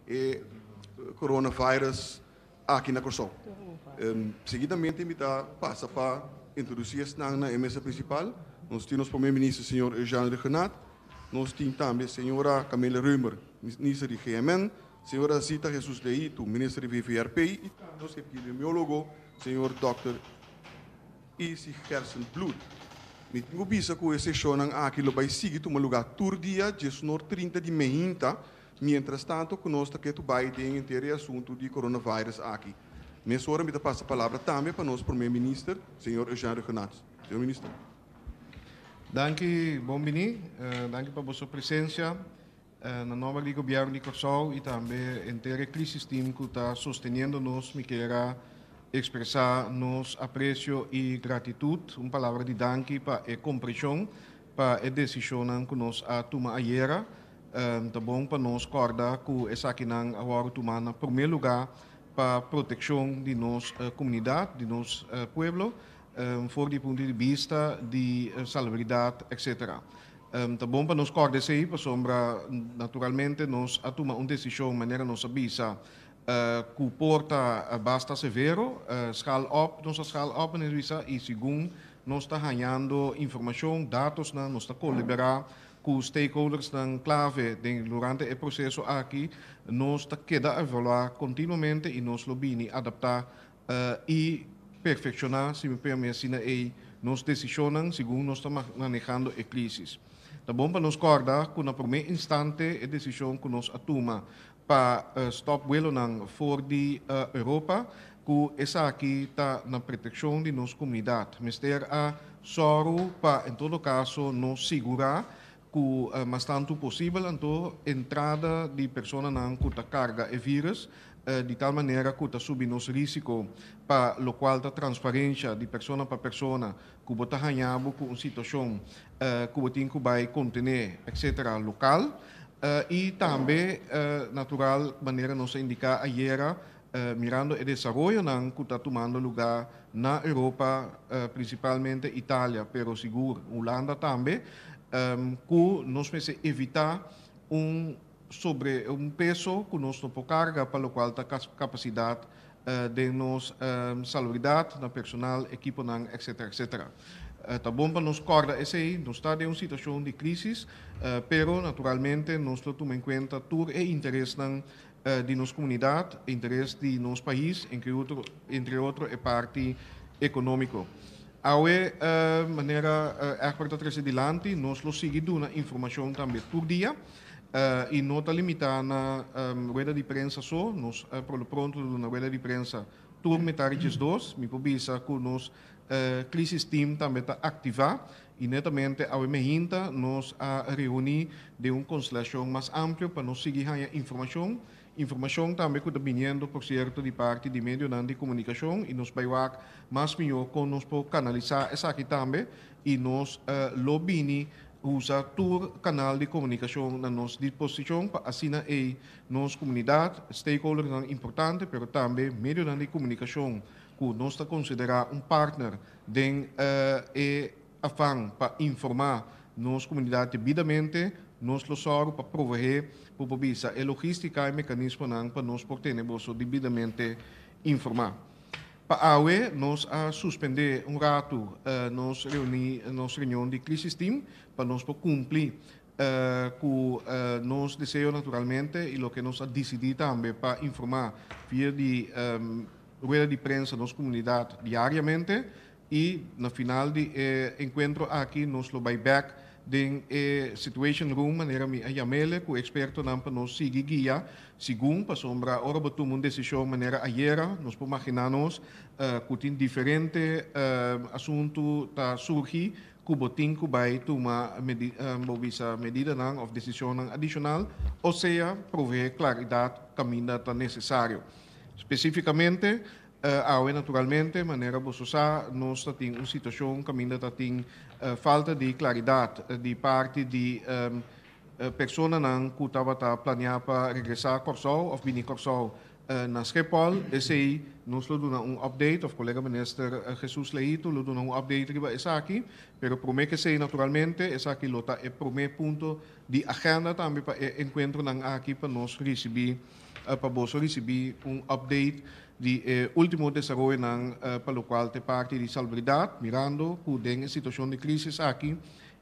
e coronavirus aki na Kòrsou. Seguidamente mi ta pasa pa introduci esnan na e mesa principal. Nos tin nos Prome Minister señor Eugène Regenaat, nos tin tambe señora Camilla Römer, Minister di GMN, señora Zita Jesus de Hito, Minister di VVRP y tambe nos Epidemiólogo señor Dòkter. I si Gerson Bloed. Mi tin ku bisa ku e seshonnan aki lo bai sigui tuma lugá tur dia djesnor trinta di mehinta, miéntras tantu ku nos ta ke tu bai den enter e asuntu di coronavirus aki. Mesora mi ta pasa palabra tambe pa nos Prome Minister, señor Eugène Rhuggenaath. Señor Minister. Danki, bon bini. Danki pa boso presensia. Na nomber di Gobièrnu di Kòrsou i tambe henter e Crisistim ku ta sosteniendo nos mi kier a ekspresá nos apresio i gratitut. Un palabra di danki pa e kompreshon pa e desishonnan ku nos a tuma ayera. Ta bon pa nos kòrda ku esakinan a wòrdu tumá na promé lugá pa protekshon di nos komunidat, di nos pueblo for di punto di bista di salubridad etc. Ta bon pa nos kòrda esei pasobra naturalmente nos a tuma un desishon manera nos a bisa ku por ta basta severo, schaal op, nos a schaal op manera di bisa i segun nos ta hañando informashon, datosnan, nos ta koliberá ku stakeholdersnan klave den durante e proseso aki, nos ta keda evaluá kontinuamente i nos lo bini adaptá i perfekshoná si mi p'e mi asina ei nos desishonnan segun nos ta manehando e krísis. Ta bon pa nos kòrda ku na promé instante e desishon ku nos a tuma pa stòp vuelonan for di Europa ku esaki ta na protekshon di nos komunidat mester a sòru pa en todo kaso nos sigurá Ku mas tantu posibel anto entrada di personanan ku ta karga e vírùs di tal manera ku ta subi nos rísiko pa lokual ta transferensha di persona pa persona ku bo ta haña bo ku un situashon ku bo tin ku bai kontené etsetera lokal i tambe natural manera nos a indiká ayera mirando e desaroyonan cu ta tumando lugá na Europa, principalmente Italia, pero sigur Hulanda tambe, cu nos mester evitá un sobre, un peso cu nos no por carga pa locual ta capacidad den nos salubridad, na personal, ekiponan, etcetera, etcetera. Ta bon pa nos corda esey, nos ta den un situacion di crisis, pero naturalmente nos lo tuma en cuenta tur e interesnan di nos komunidat, interes di nos pais, entre otro, entre otro e parti ekonómiko. Awe, manera Egbert a trese dilanti, nos lo sigui duna informashon tambe tur dia i no ta limitá na rueda di prensa so. Nos por lo pronto ta duna rueda di prensa tur metardeches dos. Mi por bisa ku nos Krisis Team tambe ta aktivá I netamente awe mehinta nos a reuní den un konstelashon mas amplio pa nos sigui haña informashon, informashon tambe ku ta biniendo por sierto di parti di medionan di komunikashon i nos bai wak mas mihó kon nos por kanalisá esaki tambe i nos lo bini usa tur kanal di komunikashon na nos disposishon pa asina ei nos komunidat, stakeholdernan importante pero tambe medionan di komunikashon ku nos ta konsiderá un partner Den e afan pa informá nos komunidat debidamente, nos lo sòru pa proveé, ku bo bisa, e logístika i mekanismonan pa nos por tene boso debidamente informá. Pa awe nos a suspendé un ratu nos reuní, nos reunion di Crisis Team pa nos por kumpli ku nos deseo naturalmente i loke nos a disidí tambe pa informá via di rueda di prensa nos komunidat diariamente i na final di e enkuentro aki nos lo bai bèk den e situation room manera mi a yam'e ku ekspertonan pa nos sigui guia segun pasobra ora bo tuma un desishon manera ayera nos por maginá nos ku tin diferente asuntu ta surgi ku bo tin ku bai tuma bo bisa medidanan òf desishonnan adishonal osea proveé klaridat kaminda ta nesesario. Spesífikamente, awe naturalmente, manera boso sa, nos ta tin un situashon kaminda ta tin falta di klaridat di parti di personanan ku tabata planiá pa regresá Kòrsou òf bini Kòrsou na Skepòl. Esei nos lo duna un òpdeit òf kolega minister Hesus Leïto lo duna un òpdeit riba esaki. Pero promé k'esei naturalmente esaki lo ta e promé punto di agenda tambe pa e enkuentronan aki pa nos risibí pa boso ricibi un update di e ultimo desaroyonan pa lo cual te parti di Salbridad, mirando cu den e situacion di crisis aki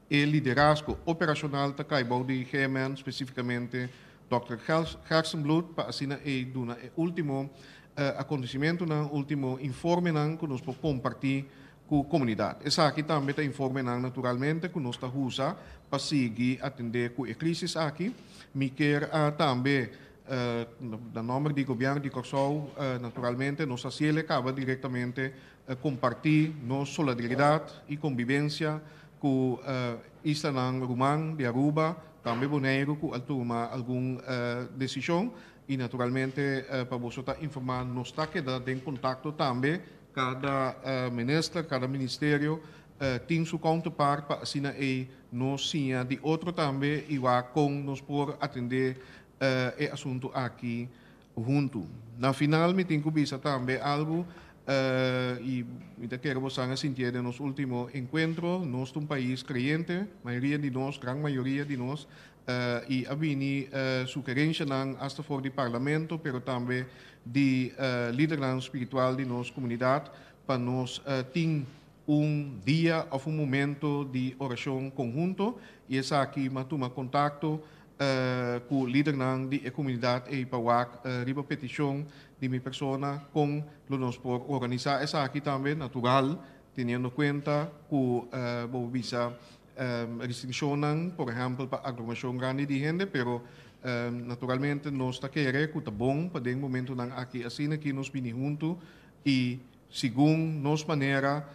e liderazgo operacional ta cay bao di GMN, specificamente Dòkter Gerstenbloed, pa asina ey duna e ultimo acontecimentonan, ultimo informenan cu nos por comparti ku komunidat. Esaki tambe ta informenan naturalmente ku nos ta usa pa sigui atendé ku e krísis aki. Mi kier tambe na nòmber di Gobièrnu di Kòrsou naturalmente nos a siel e kaba direktamente kompartí nos solidaridat i kombibensia ku islanan ruman di Aruba, tambe Boneiru ku al tuma algun desishon i naturalmente pa boso ta informá nos ta keda den kontakto tambe Cada minister, cada ministerio tin su counterpart pa asina ei nos siña di otro tambe y wak con nos por atende e asunto aki hunto. Na final mi tin cu bisa tambe algo y mi ta kere bosan a sintié den nos ultimo encuentro, nos ta un pais creyente, mayoria di nos, gran mayoria di nos, y a bini sugerencianan hasta for di Parlamento pero tambe di lidernan spiritual di nos komunidat pa nos tin un dia òf un momento di orashon konhunto i esaki mi a tuma kontakto ku lidernan di e komunidat ei pa wak riba petishon di mi persona kon lo nos por organisá esaki tambe natural teniendo kuenta ku bo bisa Restriccionnan por ehempel pa aglomeracion grandi di hende pero naturalmente nos ta kere cu ta bon pa den momentonan aki asina ki nos bini huntu y segun nos manera,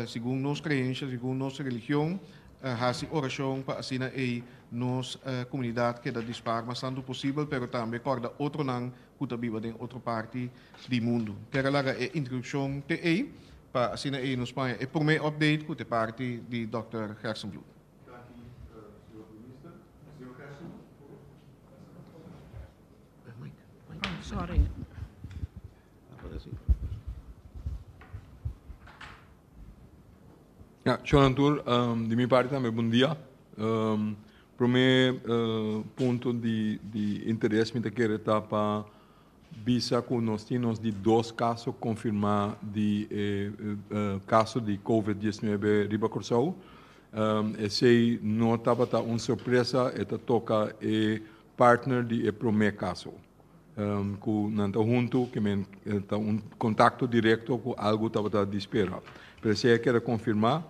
segun nos creencia, segun nos religion haci oracion pa asina ey nos comunidad keda dispar mas tanto posibel pero tambe corda otronan ku ta biba den otro parti di mundu. Ter a laga e introdukshon te ei, pa asina ei nos paña e promé update ku ta e parti di Dòkter Gerstenbloed. Danki, Señor Minister. Señor Gerstenbloed, por favor. Shunantur, di mi parti tambe bundia. Prome punto di di interes mi ta kere ta pa bisa ku nos tin nos di dos kaso konfirmá di e kaso di covid diesnuebe riba Kòrsou. Esei no tabata un sorpresa, e ta toka e partner di e promé kaso ku nan ta huntu, ke men ta un kontakto direkto ku algu tabata di spera. Pero esei a keda konfirmá.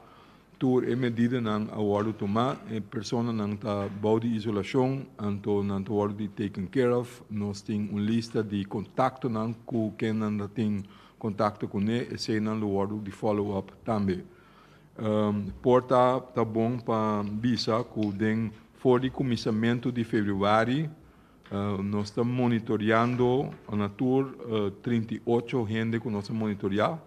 Tur e medidanan a wòrdu tumá. E personanan ta bou di isolashon, anto nan ta wòrdu di taken care of. Nos tin un lista di kontaktonan ku ken nan ta tin kontakto kuné, eseinan lo wòrdu di follow up tambe. Por ta ta bon pa bisa ku den for di kuminsamentu di februari nos ta monitoreando na tur trinta i ocho hende ku nos a monitoreá.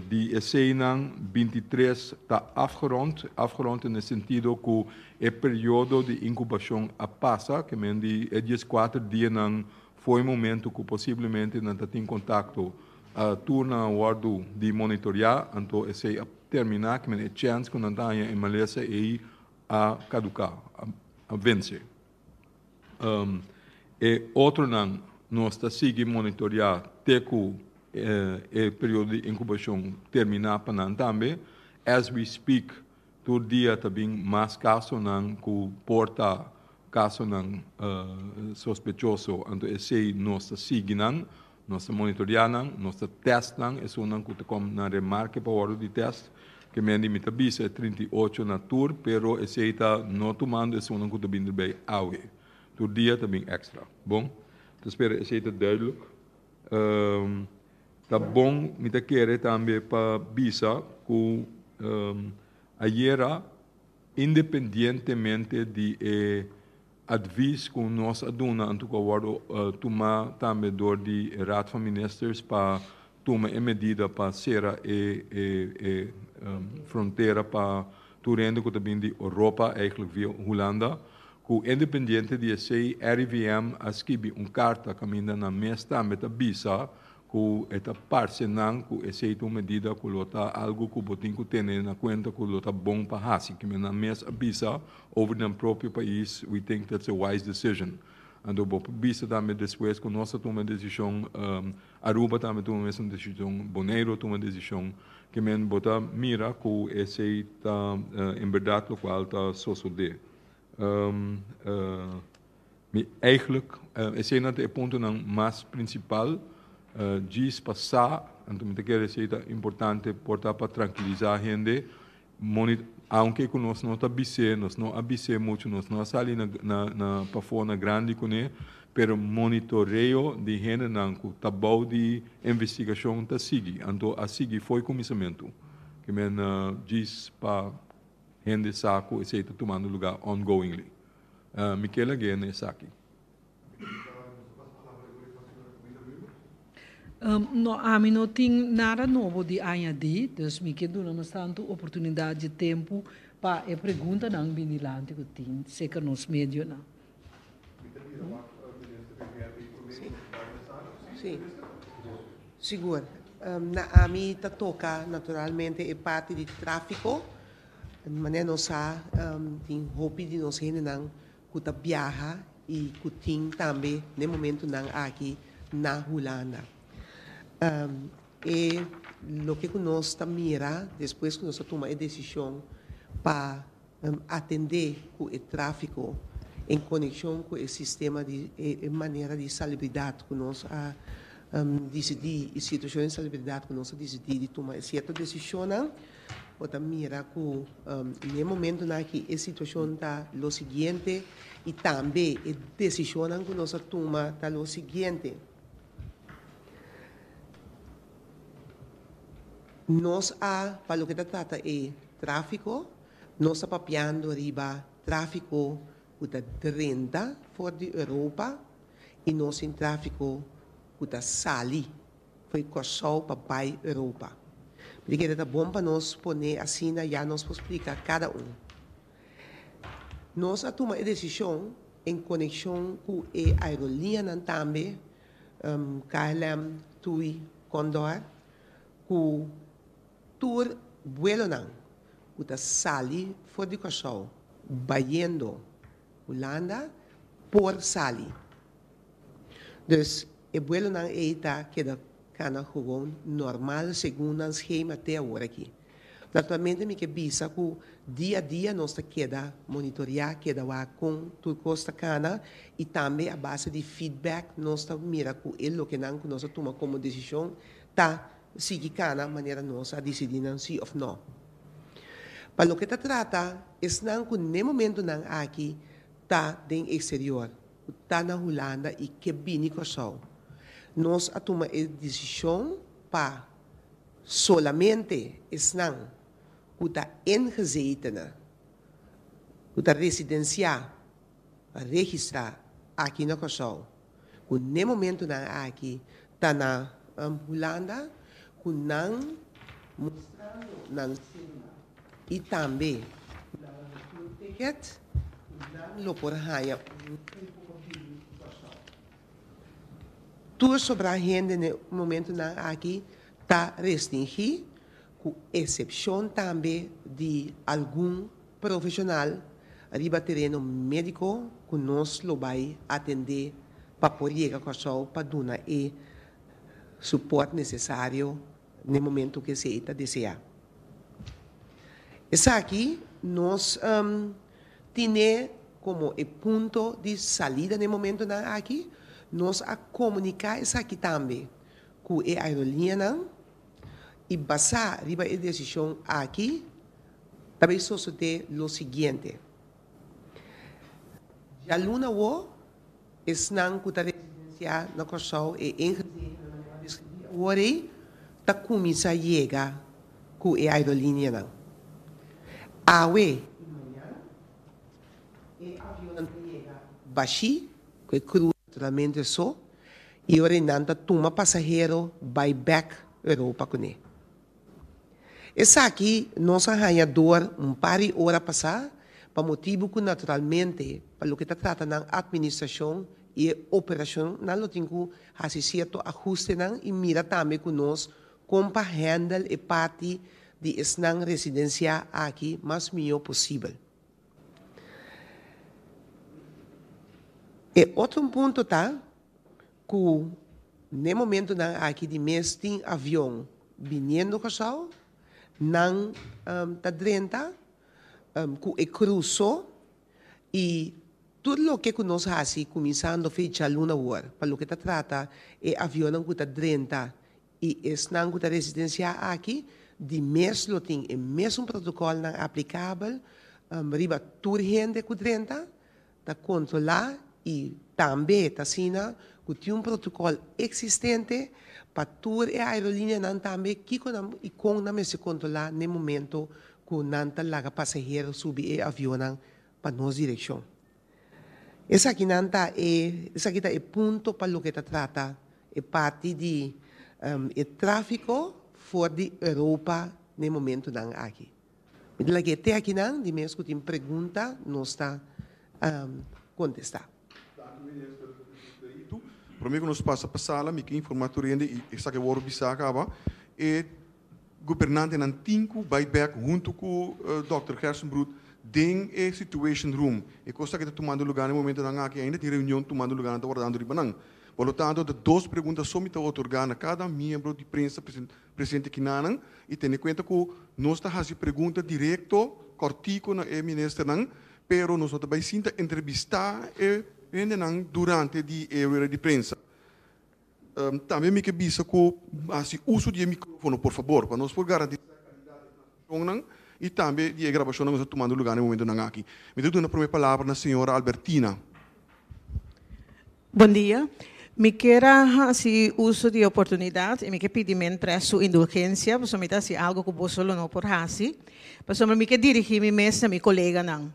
Di eseinan binti tres ta afgerond, afgerond den e sentido ku e periodo di inkubashon a pasa, ke men di e dies kuater dianan for e momentu ku posiblemente nan ta tin kontakto. Tur nan a wòrdu di monitoreá, anto esei a terminá, ke men e chèns ku nan ta haña e malesa ei a kaduká, a vense. E otronan nos ta sigui monitorea te cu e periodo di incubacion termina pa nan tambe. As we speak tur dia ta bin mas casonan cu por ta casonan sospechoso, anto esey nos ta sigui nan Nos ta monitorea nan, nos ta test nan, esunnan cu ta com na remarke pa wordo di test, que men di mi ta bisa e trinta i ocho na tur, pero esey ta no tumando esunnan cu ta bin derbey awe. Tur dia ta bin extra. Bon, ta spera esey ta duidelijk. Ta bon mi ta kere tambe pa bisa cu ayera, independientemente di e. Advis cu nos a duna anto cu a wordo tuma tambe door di e Raad van Ministers pa tuma e medida pa cera e e frontera pa tur hende cu ta bini di Europa, eigenlijk via Hulanda, cu independiente di esey RIVM a skibi un carta caminda nan mes tambe ta bisa cu e ta parce nan cu esey ta un medida cu lo ta algo cu bo tin cu tene na cuenta cu lo ta bon pa haci kimen nan mes a bisa. Over nan propio pais we think that's a wise decision anto bo por bisa tambe despues cu nos a tuma decision Aruba tambe tuma mesun decision Boneiro tuma decision ki men bo ta mira cu esey ta en berdad locual ta sosode mi eigenlijk esey nan ta e puntonan mas principal djis pa sa anto mi ta kere esey ta importante por ta pa trankiliza hende Moni, Aunke ku nos no ta bis'é, nos no a bis'é muchu, nos no a sali na na na pafó na grandi kuné, pero monitoreo di hendenan ku ta bou di investigashon ta sigui, anto a sigui fo'i kuminsamentu. Ke men djis pa hende sa ku esei ta tumando lugá ongoingly. Mi ke lag'é na esaki. No, ami no tin nada nobo di añadi, dus mi ke duna nos tantu oportunidat dje tempu pa e preguntanan bini lanti ku tin serka nos medionan. Sí, sigur. Na ami ta toka naturalmente e parti di tráfiko, manera nos sa tin hopi di nos hendenan cu ta biaha y cu tin tambe n'e momentunan aki na Hulanda. E loke cu nos ta mira despues cu nos a tuma e decision pa atende cu e trafico en coneccion cu e sistema di e manera di salubridad cu nos a dicidi y situacion di salubridad cu nos a dicidi di tuma e cierto decisionnan, Bo ta mira cu n'e momentonan aki e situacion ta lo siguiente y tambe e decisionnan cu nos a tuma ta lo siguiente, Nos a, pa loke ta trata e trafico, nos ta papiando riba trafico cu ta drenta for di Europa y nos tin trafico cu ta sali. Foi Kòrsou pa bai Europa. Mi ta kere ta bon pa nos pone asina ya nos por splika kada un. Nos a tuma e desishon en konekshon ku e aerolineanan tambe, KLM, TUI, Condor, ku tur buelonan ku ta sali for di Kòrsou, bayendo Hulanda, por sali. Dus e buelonan ei ta keda kana gewoon normal segun nan schema te awor aki. Naturalmente mi ke bisa ku dia a dia nos ta keda monitorea, keda wak kon tur kos ta kana i tambe a base di feedback nos ta mira ku e lokenan ku nos a tuma komo desishon ta sigui kana manera nos a disidí nan sí òf nò. Pa loke ta trata esnan ku n'e momentunan aki ta den eksterior, Cu ta na Hulanda y ke bini Corsou. Nos a tuma e decision pa solamente esnan cu ta engezetene, cu ta residencia pa registra aki na Corsou, cu n'e momento nan aki ta na Hulanda, cu nan mostrando nan cedula y tambe cu nan a retur ticket. Nan lo por haña un tiempo continu di pastoor. Tur sobra hende na e momentunan aki ta restingí, ku esepshon tambe di algun profeshonal riba tereno médiko ku nos lo bai atendé pa por yega Kòrsou pa duna e supòrt nesesario na e momentu ku esei ta deseá. Esaki nos tine komo e punto di salida na e momentunan aki. Nos a komuniká esaki tambe ku e aerolineanan i basá riba e desishon aki ta bay sosodé lo siguiente. Djaluna Wo, esnan ku ta residensiá na Kòrsou e ingrediente nan mester deskribí awor ei ta kuminsá yega ku e aerolinianan. Awe i mañan e avionnan ta yega bashí ku e kru naturalmente so i ora e nan ta tuma pasahero bai bèk Europa kuné. Esaki nos a haña door un par di ora pasá pa motibu cu naturalmente pa loke ta trata nan administracion y e operacion nan lo tin cu haci cierto ahustenan y mira tambe cu nos con pa handle e parti di esnan residenciá aki mas mijo posibel. E otro un punto ta. Cu n'e momentonan aki di mes tin avion biniendo Curaçao, nan ta drenta cu e cruso y tur loke cu nos haci cuminsando fecha luna awor pa loke ta trata e avionnan cu ta drenta y esnan cu ta residencia aki di mes lo tin e mesun protocolnan aplicabel riba tur hende cu drenta. ta controla y tambe ta asina cu tin un protocol existente pa tur e aerolíneanan tambe kico nan y con nan mester controla n'e momento cu nan ta laga pasahero subi e avionnan pa nos direccion. Esakinan ta e, esaki ta e punto pa loke ta trata e parti di e trafico for di Europa n'e momentonan aki. Mi ta lag'é te akinan, di mes ku tin pregunta nos ta kontestá. Danki Minister Espedito. Promé ku nos pasa pa sala mi ke informá tur hende i esaki a wòrdu bisá akaba, e gobernantenan tin ku bai bèk huntu ku Dòkter Gerstenbrood den e Situation Room. E kos akí ta tumando lugá na e momentonan akí. Ainda tin reunion tumando lugá nan ta wòrdando riba nan. Por lo tantu ta dos pregunta so mi ta otorgá na kada miembro di prensa, Presidente Kinanan y tene cuenta cu nos ta haci pregunta directo, cortico na e Ministernan, pero nos no ta bay sinta entrevista e hendenan durante di e rueda di prensa. Tambe mi ke bisa cu haci uso di e microfono, por fabor, pa nos por garantisa calidad di e programa. Tonnan y tambe di e grabacionnan nos a tumando luga na e momentonan aki. Mi ta duna prome palabra na señora Albertina. Bon dia. Mi kier a hasi uso di e oportunidad y mi kier pidi men tres su indulgencia pasobra mi ta hasi algo cu boso lo no por hasi. Pasobra mi kier dirigi mi mes na mi coleganan.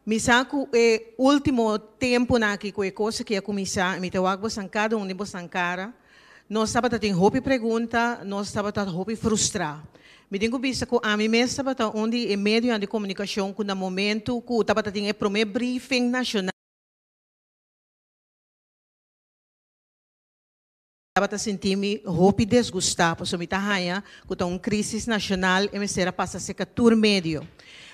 Mi sa cu e ultimo tempunan aki cu e cos aki a cuminsa, mi ta wak bosan cada un di bos nan cara, nos tabata tin hopi pregunta, nos tabata hopi frustra. Mi tin cu bisa cu ami mes tabata un di e medionan di comunicacion cu na momento cu tabata tin e prome briefing nacional, Tabata sinti mi hopi desgusta paso mi ta haña cu ta un crisis nacional e mester a pasa seca tur medio.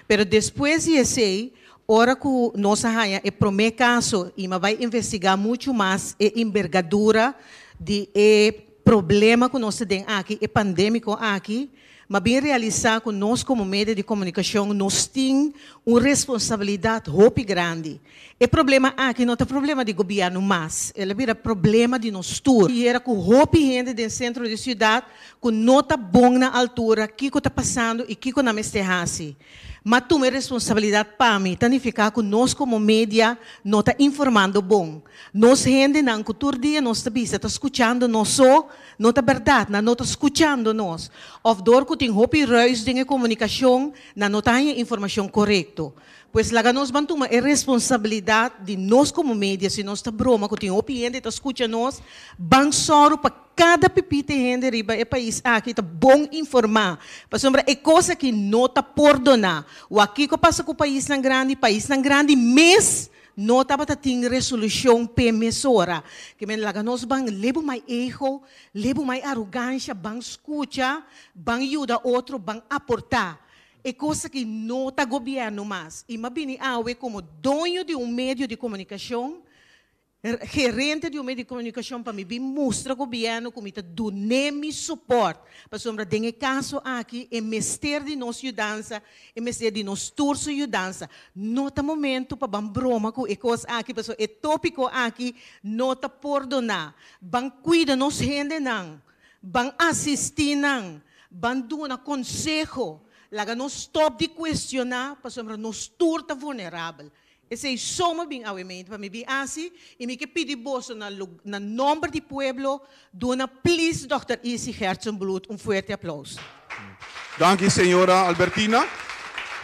Pero despues di esey, ora cu nos a haña e prome caso y mi a bay investiga mucho mas e inbergadura di e problema cu nos ta den aki, e pandemico aki, m'a bin realisá ku nos komo medio di komunikashon nos tin un responsabilidat hopi grandi. E problema aki no ta problema di gobièrnu mas, el a bira problema di nos tur. Yera ku hopi hende den sentro di siudat ku no ta bon na altura kiko ta pasando i kiko nan mester hasi. Ma tuma e responsabilidat pa mi ta nifiká ku nos komo media no ta informando bon. Nos hendenan ku tur dia nos ta bisa ta skuchando nos so, no ta bèrdat, nan no ta skuchando nos òf dor ku tin hopi rùis den e komunikashon nan no ta haña informashon korekto. Pues laga nos ban tuma e responsabilidat di nos komo media si nos ta broma ku tin hopi hende ta skucha nos, ban sòru pa. Kada pipite hende riba e pais aki ta bon informá, pasobra e kos aki no ta por doná. Wak kiko pasa ku paisnan grandi, paisnan grandi mes no tabata tin resolushon p'e mesora. Ke men laga nos ban lebu mai ego, lebu mai arogansha, ban skucha, ban yuda otro, ban aportá. E kos aki no ta gobièrnu mas. I m'a bini awe komo doño di un medio di komunikashon Gerente di un medio di comunicacion pa mi bin mustra gobierno cu mi ta dun'e mi support pasobra den e caso aki e mester di nos yudansa, e mester di nos tur su yudansa. No ta momento pa ban broma cu e cos aki pasobra e topico aki no ta pordona. Ban cuida nos hendenan, ban asisti nan, ban duna conseho, laga nos stop di cuestiona pasobra nos tur ta vulnerabel. Esei somer bin awe mente pa mi bin asi i mi ke pidi boso na na nomber di pueblo duna please Dòkter Isi Herzenblut un fuerte aplauso. Danki señora Albertina.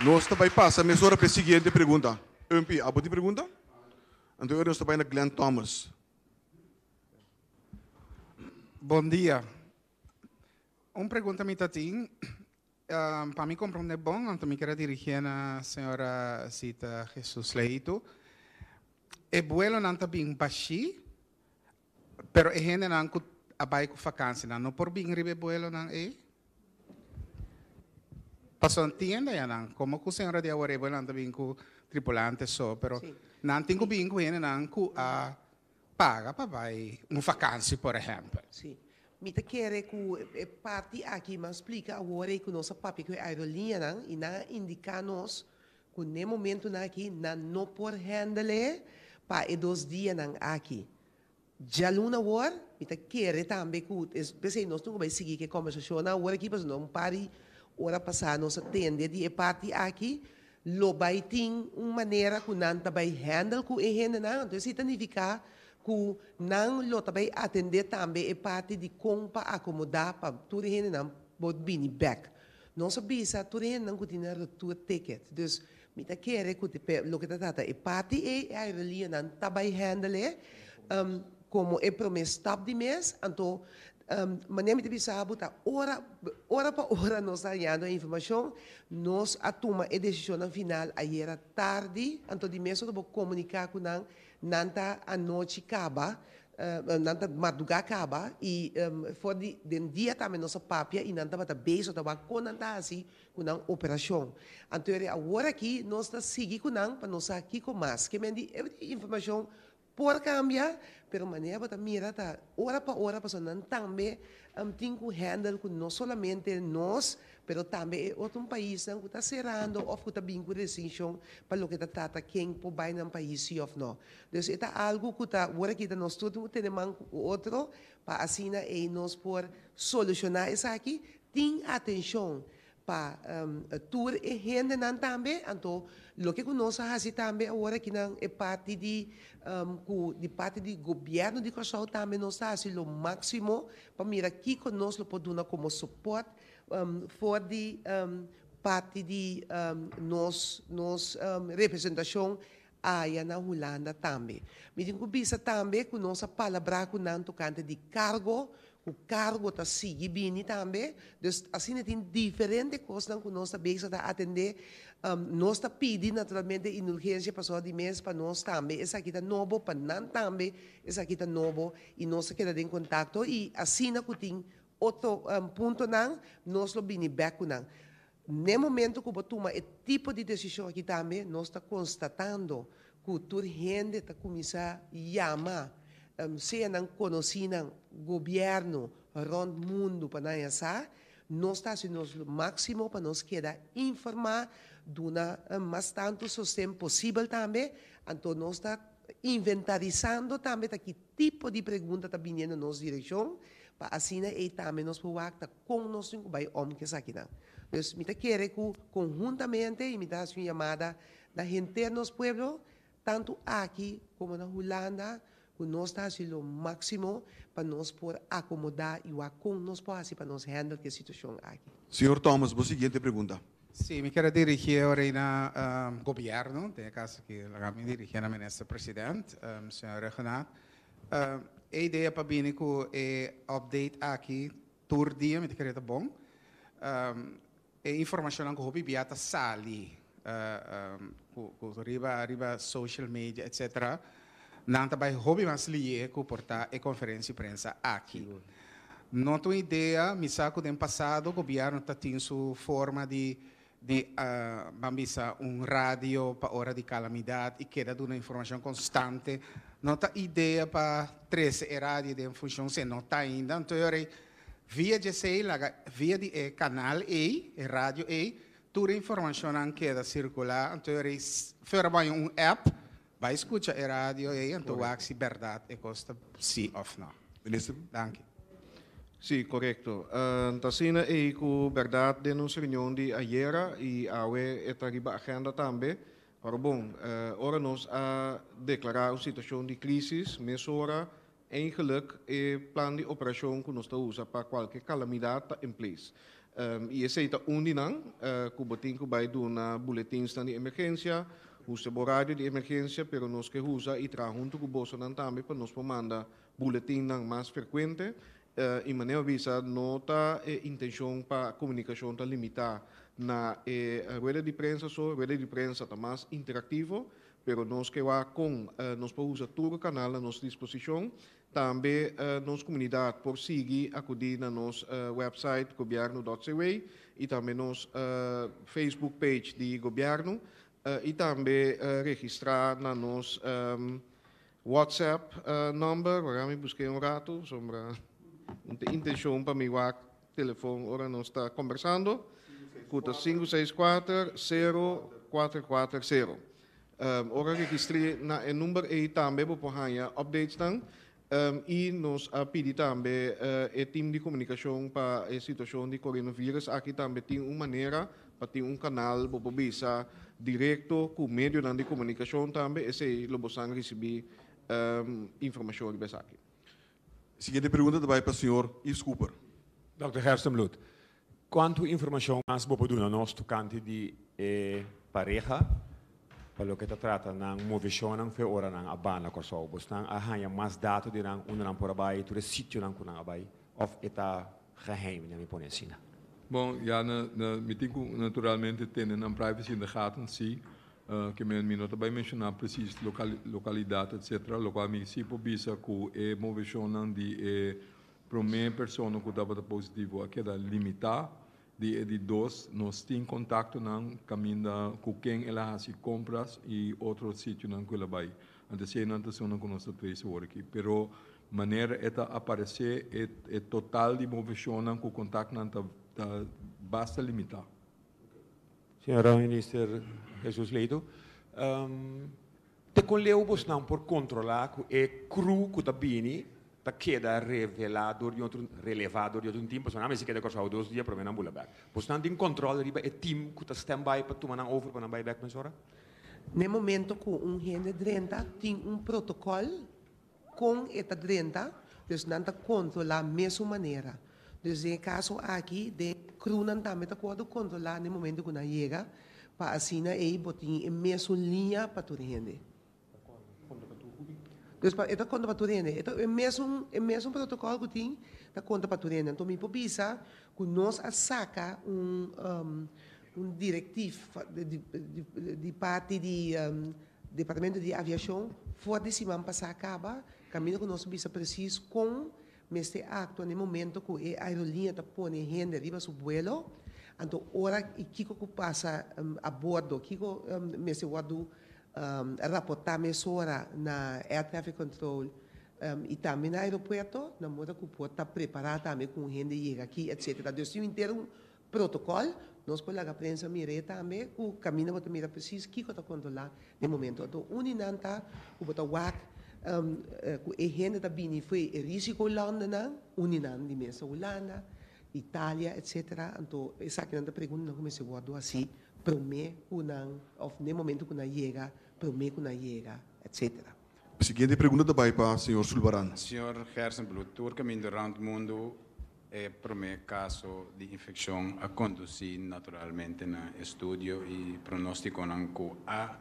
Nos ta bai pasa mesora p'e siguiente pregunta. Humpy, abo tin pregunta? Anto e ora nos ta bai na Glen Thomas. Bon dia. Un pregunta mi ta tin. Pa mi komprondé bon, anto mi kere dirigié na señora Zita Jesus Leitu, e buelonan ta bin bashí, pero e hendenan ku a bai ku fakansianan no por bin riba e buelonan ei. Pasobra nan tin hende ayanan, komo ku señora di awor, e buelonan ta bin ku tripulante so, pero nan tin ku bin ku hendenan ku a. Paga pa bai un vakansi, por ehèmpel. Sí. Mi ta kere ku e parti aki mas splika awor ei ku nos a papia ku e aerolineanan i nan a indiká nos ku n'e momentunan aki nan no por hèndel'é pa e dos dianan aki. Djaluna awor mi ta kere tambe ku es p'esei nos tin ku bai sigui ku e kòmbersashonnan awor aki pasobra un par di ora pasá nos a tende di e parti aki. Lo bai tin un manera ku nan ta bai handle ku e hendenan, anto esei ta nifiká ku nan lo ta bai atendé tambe e parti di kon pa akomodá pa tur e hendenan por bini bèk. Nos a bisa tur e hendenan ku tin nan retour ticket. Dus mi ta kere ku loke ta trata e parti ei, e aerolianan ta bai handle e komo e promé stap di mes, anto Manera mi ta bisa bo ta ora, ora pa ora nos ta hañando e informacion, nos a tuma e decisionnan final ayera tardi, anto di mes ora bo comunica cu nan, nan ta anochi caba, nan ta marduga caba y for di den dia tambe nos a papia y nan tabata base tabata wak con nan ta haci cu nan operacion. Anto di awor aki nos ta sigui cu nan pa nos sa kico mas, ke men di every informacion Por cambia, pero manera bo ta mira ta ora pa ora pasobra nan tambe a tin cu handle cu no solamente nos pero tambe e otro paisnan cu ta cerando of cu ta bin cu restriccion pa loke ta trata ken por bay nan pais si of no. Dus e ta algo cu ta wor aki ta nos tur tin cu tene man cu otro pa asina ey nos por soluciona esaki tin atencion pa tur e hendenan tambe, anto loke ku nos a hasi tambe awor akinan e parti di ku di parti di gobièrnu di Kòrsou tambe nos ta hasi lo máksimo pa mira kiko nos lo por duna komo sopòt for di parti di nos nos representashon Aya na Hulanda tambe. Mi tin cu bisa tambe cu nos a palabrá cu nan tocante di cargo, cu cargo ta sigui bini tambe. Dus asina e tin diferente cosnan cu nos ta bezig ta atendé. Nos ta pidi naturalmente indulgencia pasobra di mes pa nos tambe esaki ta nobo, pa nan tambe esaki ta nobo y nos a keda den contacto y asina cu tin otro puntonan nos lo bini bek cu nan. N'e momento cu bo tuma e tipo di decision aki tambe nos ta constatando cu tur hende ta cuminsa yama sea nan conocinan, gobierno rond mundo pa nan a sa. Nos ta haci nos lo maximo pa nos keda informa, duna mas tanto sosten posibel tambe. Anto nos ta inventarizando tambe ta ki tipo di pregunta ta biniendo nos direccion pa asina ey tambe nos por wak ta. Kon nos tin ku bai om ku esakinan? Pues mi ta kere ku konhuntamente mi ta hasi un yamada na henter nos pueblo, tantu aki komo na Hulanda, ku nos ta hasi lo máksimo pa nos por akomodá i wak kon nos por hasi pa nos hèndel ki e situashon aki. Señor Thomas, bo siguiente pregunta. Sí, mi ker dirigié awor ei na Gobièrnu, den e kaso aki laga mi dirigié na Minister President, Señor Rheggenaath. E idea pa bini cu e update aki tur dia mi ta kere ta bon. E informacionnan cu hopi bia ta sali cu riba riba social media etc. Nan ta bay hopi mas lie cu por ta e conferencia di prensa aki. No ta un idea, mi sa cu den pasado gobierno ta tin su forma di di ban bisa un radio pa ora di calamidad y keda duna informacion constante, no ta idea pa trece e radio den funcion si e no ta ainda, antoiory via djesey laga via di e canal ey, e radio ey, tur e informacionnan keda circula, antoiory for a baña un app, Bai scucha e radio ey anto wak si berdad e cos ta si of no. Minister. Danki. Si, corecto. Ta asina ey cu berdad den nos reunion di ayera y awe e ta riba agenda tambe. Pero bon, ora nos a declara un situacion di crisis, mesora Eigenlijk e plan di operashon ku nos ta usa pa kualke kalamidat ta in place i esei ta un di nan ku bo tin ku bai duna buletinsnan di emergensia, usa bo radio di emergensia pero nos ke usa i traha huntu ku bosonan tambe pa nos por manda buletinnan mas frekuente i manera bisa no ta e intenshon pa komunikashon ta limitá na e rueda di prensa so, rueda di prensa ta mas interaktivo Pero nos ke wak kon nos por usa tur e kanal na nos disposishon. Tambe nos komunidat por sigui akudí na nos wèpsait gobièrnu dòt CW i tambe nos facebook page di gobièrnu i tambe registrá na nos whatsapp nòmber. Wak mi busk'é un ratu, sombra no ta intenshon pa mi wak Telefon ora nos ta kombersando ku ta sinku seis kuater sero kuater kuater sero. Ora registri na e number ei tambe bo por haña updatesnan i nos a pidi tambe e tim di komunikashon pa e situashon di korenovirus aki tambe tin un manera pa tin un kanal bo por bisa direkto ku medionan di komunikashon tambe esei lo bosan risibi informashon riba esaki. Siguiente pregunta ta bai pa señor Yves Cooper. Dòkter Gerstenbloed, kuantu informashon mas bo por duna nos tokante di e pareha pa loke ta trata nan moveshonnan fe ora nan a banda Kòrsou? Bosnan a haña mas dato di nan, unda nan por a bai, tur e sitionan ku nan a bai, òf e ta geheim, dja mi pone asina? Bon, ya nan tin ku naturalmente tene nan privacy in de gaten, sí. Ke men mi no ta bai menshoná presis lokalidat etsetera, lokual mi si por bisa ku e moveshonnan di e promé persona ku tabata positivo a keda limitá, di e di dos nos tin kontaktonan kaminda ku ken el a hasi kompras i otro sitionan ku el a bai. Ant esei nan ta esunnan ku nos ta trese awor aki. Pero manera e ta aparesé e total di moveshonnan ku kontaktnan ta basta limitá. Señora Minister Jesus Ledo, te con leu bosnan por controla cu e cru cu ta bini ta keda revela door di otro, releva door di otro team? Pasobra nan a mester keda Curaçao dos dia prome nan bula bek. Bosnan tin control riba e team cu ta stand by pa tuma nan over pa nan bay bek mesora? Na e momento cu un hende drenta tin un protocol. Kon e ta drenta? Dus nan ta kontrolá mesun manera. Dus den e kaso aki, den e krunan tambe ta wòrdu kontrolá den momentu ku nan yega, pa asina ei bo tin e mesun liña pa tur hende. Dus pa e ta konta pa tur hende. E ta e mesun e mesun protokòl ku tin ta konta pa tur hende. Anto mi por bisa ku nos a saka un direktiv di parti di. Departamento di Aviashon for di siman pasá kaba kaminda ku nos bisa presis kon mester aktua na e momento ku e aeroliña ta pone hende riba su buelo, anto ora i kiko ku pasa abordo, kiko mester wòrdu raportá mesora na Air Traffic Control i tambe na aeropuerto, na moda ku por ta prepará tambe ku un hende yega aki, etsetera. Dus tin henter un protocol, nos por laga prensa mir'é tambe cu caminda bo ta mira precies kico ta controla den momento ato. Un di nan ta cu bo ta wak cu e hende ta bini fo'i e risico landenan, un di nan di mes ta Hulanda, Italia, etc. Anto esakinan ta preguntanan cu mester wordo haci prome cu nan of den momento cu nan yega, prome cu nan yega, etc. Siguiente pregunta ta bai pa señor Zulbarán. Señor Hersenbloed, tur caminda rond mundo e prome caso di infeccion a conduci naturalmente na estudio y pronosticonan cu a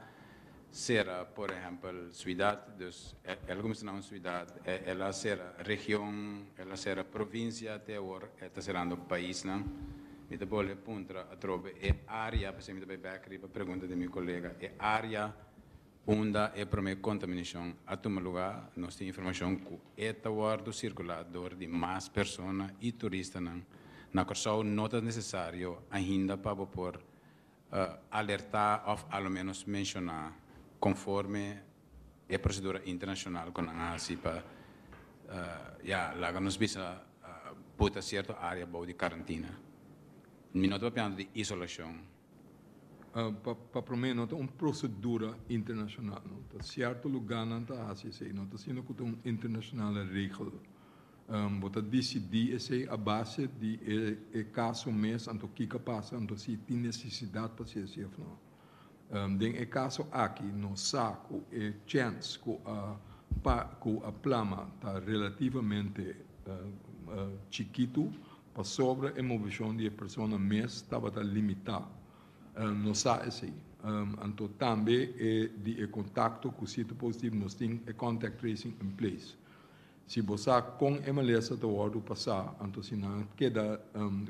cera por ehempel ciudad, dus el a cuminsa na un ciudad, el a cera region, el a cera provincia te awor e ta cerando paisnan. Mi ta bolbe puntra atrobe e area, pasobra mi ta bai back riba pregunta di mi colega, e area, Unda e promé kontaminashon a tuma lugá, nos tin informashon ku e ta wòrdu sirkulá dor di mas persona i turistanan na Kòrsou. No ta nesesario ainda pa bo por alertá òf a lo ménos menshoná konforme e prosedura internashonal ku nan a hasi pa ya laga nos bisa buta sierto área bou di karantina. Mi no tabata piansa di isolashon. Pa promé no ta un prosedura internashonal. No ta sierto lugá nan ta hasi esei. No ta asina ku ta un internashonal regel. Bo ta disidí esei a base di e kaso mes, anto kiko pasa, anto si tin nesesidat pa si esei òf no. Den e kaso aki no sa ku e chèns ku a ku a plama ta relativamente chikitu. Pasobra e movishon di e persona mes tabata limitá, nos sa esei. Anto tambe e di e kontakto ku siti positivo nos tin e contact tracing in place. Si bo sa kon e malesa ta wòrdu pasá, anto si nan a keda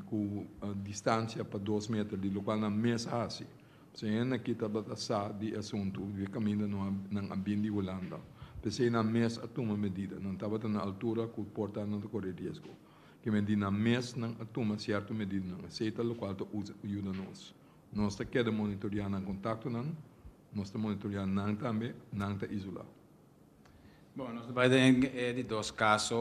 ku distansia pa dos meter di lokual nan mes hasi. P'esei hende aki tabata sa di e asuntu di kaminda nan a bin di Hulanda. P'esei nan mes a tuma medida. Nan tabata na altura ku por ta nan ta kore riesgo. Ke medidanan mes nan a tuma sierto medidanan eseta lokual ta yuda nos. Nos ta keda monitorea nan kontaktonan, nos ta monitorea nan tambe, nan ta isolá. Bon, nos ta bai den e di dos kaso,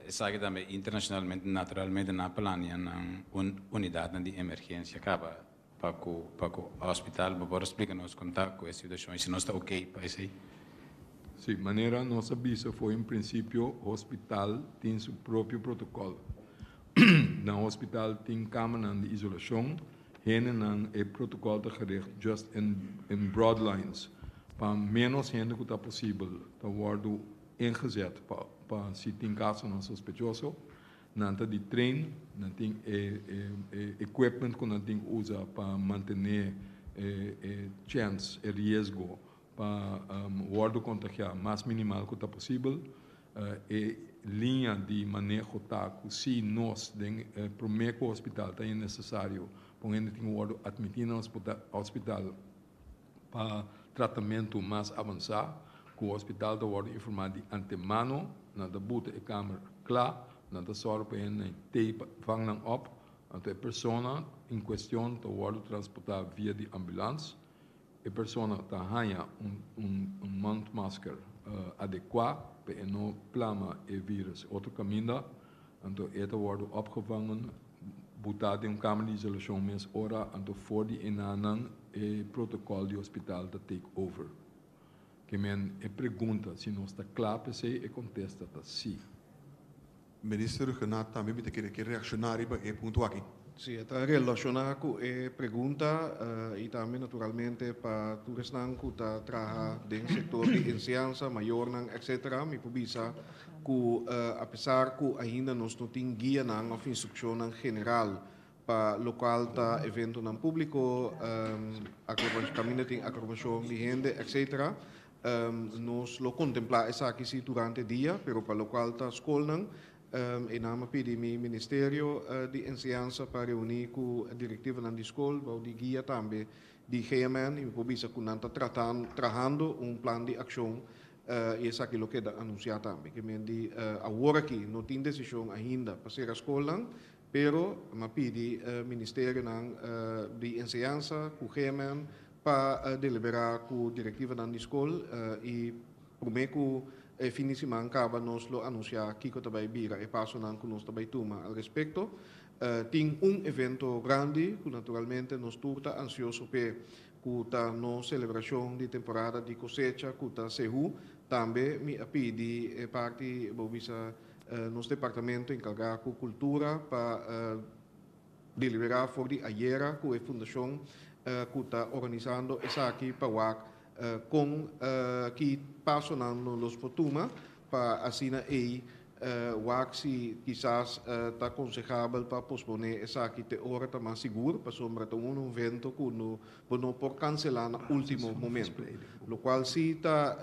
esaki tambe internashonalmente, naturalmente nan a planea nan unidatnan di emergensia kaba Pa cu pa cu hospital bo por a splica nos con ta cu e situacion y si nos ta ok pa esey? Si, manera nos a bisa fo'i un principio hospital tin su propio protocol. Na hospital tin camanan di isolacion, hendenan e protocol ta gericht just in in broad lines pa menos hende cu ta posibel ta wordo ingezet pa pa si tin casonan sospechoso Nan ta di train, nan tin e equipment cu nan tin cu uza pa mantene e chance, e riesgo pa wordo contagia mas minimal cu ta posibel. E liña di maneho ta cu si nos den prome cu hospital ta e necesario pa un hende tin cu wordo admiti na hospital, pa tratamentu mas avansá ku hospital ta wòrdu informá di antemano. Nan ta buta e kamer kla, nan ta sòru pa hende i teipa vang nan òp, anto e persona in kuestion ta wòrdu transportá via di ambulans. E persona ta haña un mondmasker adekuá pa e no plama e vírùs otro kaminda, anto e ta wòrdu òpgevangen Botá den un kamer di isolashon mes ora, anto for di enanan e protokòl di hospital ta take over. Kemen e pregunta si nos ta kla p'esei, e kontesta ta sí. Minister Rhuggenaath tambe mi ta kere ke reakshoná riba e punto aki. Sí, e ta relashoná ku e pregunta i tambe naturalmente pa tur esnan ku ta traha den sektor di enseñansa, mayornan etc. Mi por bisa cu apesar cu ainda nos no tin guianan of instruccionnan general pa locual ta eventonan publico, caminda tin acrobacion di hende etc. Nos lo contempla esaki si durante e dia, pero pa locual ta scolnan, Enan a pidi mi Ministerio di Enseñansa pa reuni cu directivenan di scol bou di guia tambe di GMN y mi por bisa cu nan ta trahando un plan di accion I esaki lo keda anunsiá tambe, ke men di awor aki no tin desishon ainda pa sera skolnan, pero nan a pidi ministerionan di enseñansa ku Gehman pa deliberá ku direktivanan di skol i promé ku e fin di siman kaba nos lo anunsiá kiko ta bai bira e pasonan ku nos ta bai tuma al respekto. Tin un evento grandi ku naturalmente nos tur ta ansioso p'e. ku ta no selebrashon di temporada di kosecha ku ta Sehú, tambe mi a pidi e parti bo bisa nos departamento enkargá ku kultura pa deliberá for di ayera ku e fundashon ku ta organisando esaki pa wak kon ki pasonan nos por tuma Pa asina ei wak si kisas ta konsehable pa posponé esaki te ora ta mas sigur, pasobra ta un evento ku no bo no por kanselá na último momento. Lokual si ta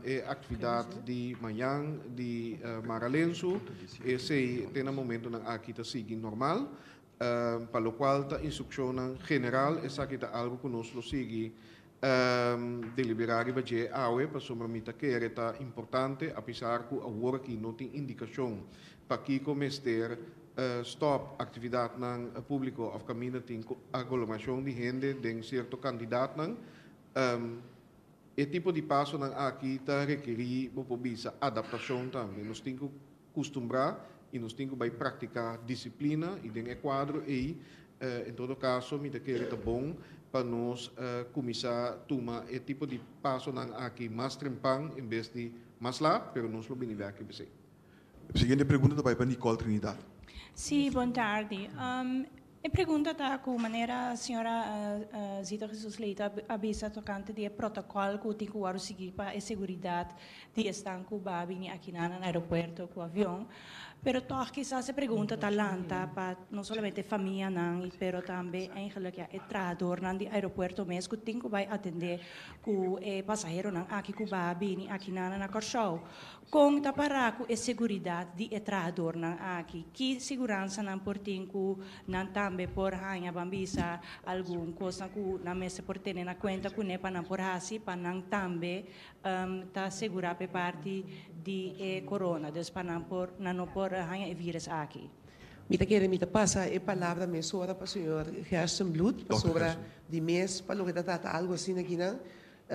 e aktividat di mañan di Mara Lensu, esei te na momentunan aki ta sigui normal. pa lokual ta instrukshonnan general, esaki ta algu ku nos lo sigui deliberá riba dje awe, pasobra mi ta kere ta importante, apesar ku awor aki no tin indikashon pa kiko mester stòp aktividatnan públiko òf kaminda tin agolomerashon di hende den sierto kantidatnan. E tipo di pasonan aki ta rekerí, bo por bisa, adaptashon tambe. Nos tin ku custumbrá y nos tin cu bay practicá disciplina y den e cuadro ey en todo caso mi ta kere ta bon pa nos cuminsa tuma e tipo di pasonan aki mas trempan en bes di mas laat pero nos lo bini beki pesey. E siguiente pregunta ta bay pa Nicole Trinidad. Sí, bon tardi. E pregunta ta ku manera señora Zita Jesus Leite a bisa tokante di e protokòl ku tin ku wòrdu sigui pa e seguridat di esnan ku ba bini akinan na aeropuerto ku avion. Pero tòg kisas e pregunta ta lanta pa no solamente e famianan pero tambe eigenlik ya e trahadornan di aeropuerto mes ku tin ku bai atendé ku e pasaheronan aki ku ba bini akinan na Kòrsou. Kon ta pará ku e seguridat di e trahadornan aki? Ki siguransanan por tin ku nan tambe por haña? Ban bisa algun kosnan ku nan mester por tene na kuenta kuné pa nan por hasi pa nan tambe ta segurá pa e parti di e korona, dus pa nan por nan no por haña e vírus aki. Mi ta kere mi ta pasa e palabra mesora pa señor Gerstenbloed pasobra di mes pa loke ta trata algu asina kinan.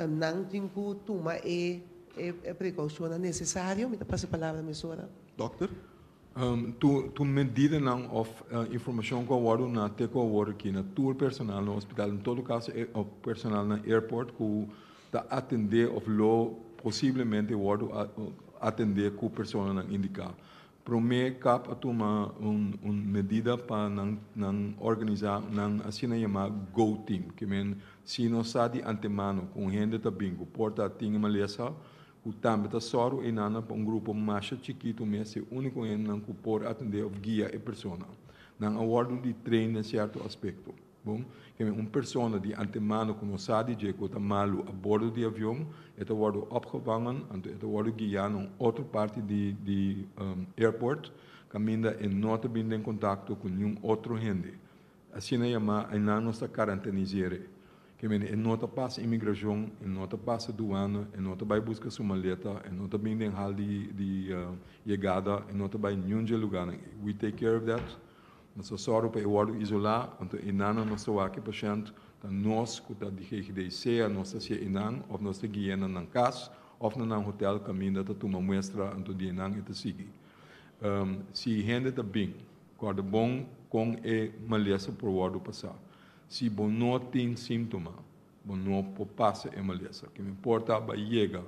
Nan tin cu tuma e precaucionnan necesario. Mi ta pasa e palabra mesora. Dokter, tur medidanan of informacion cu a wor duna te cu a wor riki na tur personal na hospital, en todo caso e personal na airport cu ta atende of lo posiblemente wordo atende cu personanan indica. Promé kap a tuma un un medida pa nan nan organisá nan asina yamá go team, ke men si nos sa di antemano ku un hende ta bin ku por ta atin e malesa, ku tambe ta sòru einannan pa un grupo masha chikitu mester úniko hendenan ku por atendé òf guia e persona. Nan a wòrdu di train den sierto aspekto. Bon, kende un persona di antemano ku no sa di dje ku ta malu a bordo di avion, e ta wòrdu opgevangen, anto e ta wòrdu guia na un otro parti di airport, kaminda e no ta bin den kontakto ku niun otro hende. Asina yamá aynan nos ta karantenizere. Kende e no ta pasa inmigrashon, e no ta pasa duana, e no ta bai buska su maleta, e no ta bin den hal di yegada, e no ta bai niun dje lugánan. We take care of that. Nos ta sòru pa e wòrdu isolá, anto enanan nos ta wak e pashènt, ta nos ku ta di GGD, sea nos ta sié enan òf nos ta gui'é na nan kas òf na nan hotèl, Kaminda ta tuma muestra anto di enan e ta sigui. Si hende ta bin, kòrda bon kon e malesa por wòrdu pasá. Si bo no tin símtoma, bo no por pasa e malesa. Ke mehor ta bai yega.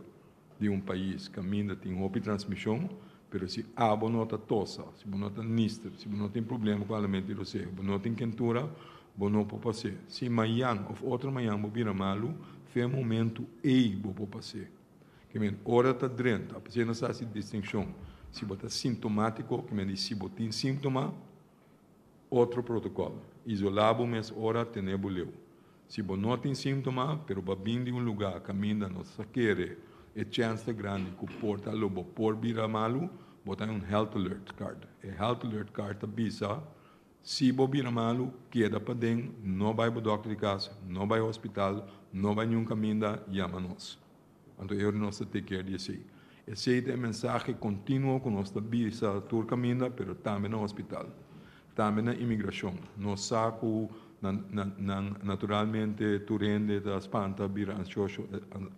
di un pais caminda tin hopi transmision, pero si abo no ta tosa, si bo no ta nister, si bo no tin problema cu alimento y roseo, bo no tin kentura, bo no por pas'e. Si mayan of otro mayan bo bira malu, fe momento ey bo por pas'e. Ke men ora ta drenta, p'esey nos haci distincion si bo ta sintomatico, ke men di si bo tin sintoma, Otro protocol. Isola bo mes ora tene bo leu. Si bo no tin sintoma pero bo a bin di un luga caminda no ta kere e chens ta grandi cu por ta lo bo por bira malu bo ta un health alert card. E health alert card ta bisa si bo bira malu keda paden no bay bo doctor di casa no bay hospital no bay niun caminda yama nos. Anto e ora nos ta tekier di esei. Esei ta e mensahe kontinuo ku nos ta bisa tur kaminda, pero tambe na hospital, tambe na imigrashon. Nos sa ku nan naturalmente tur hende ta spanta, bira anshosho,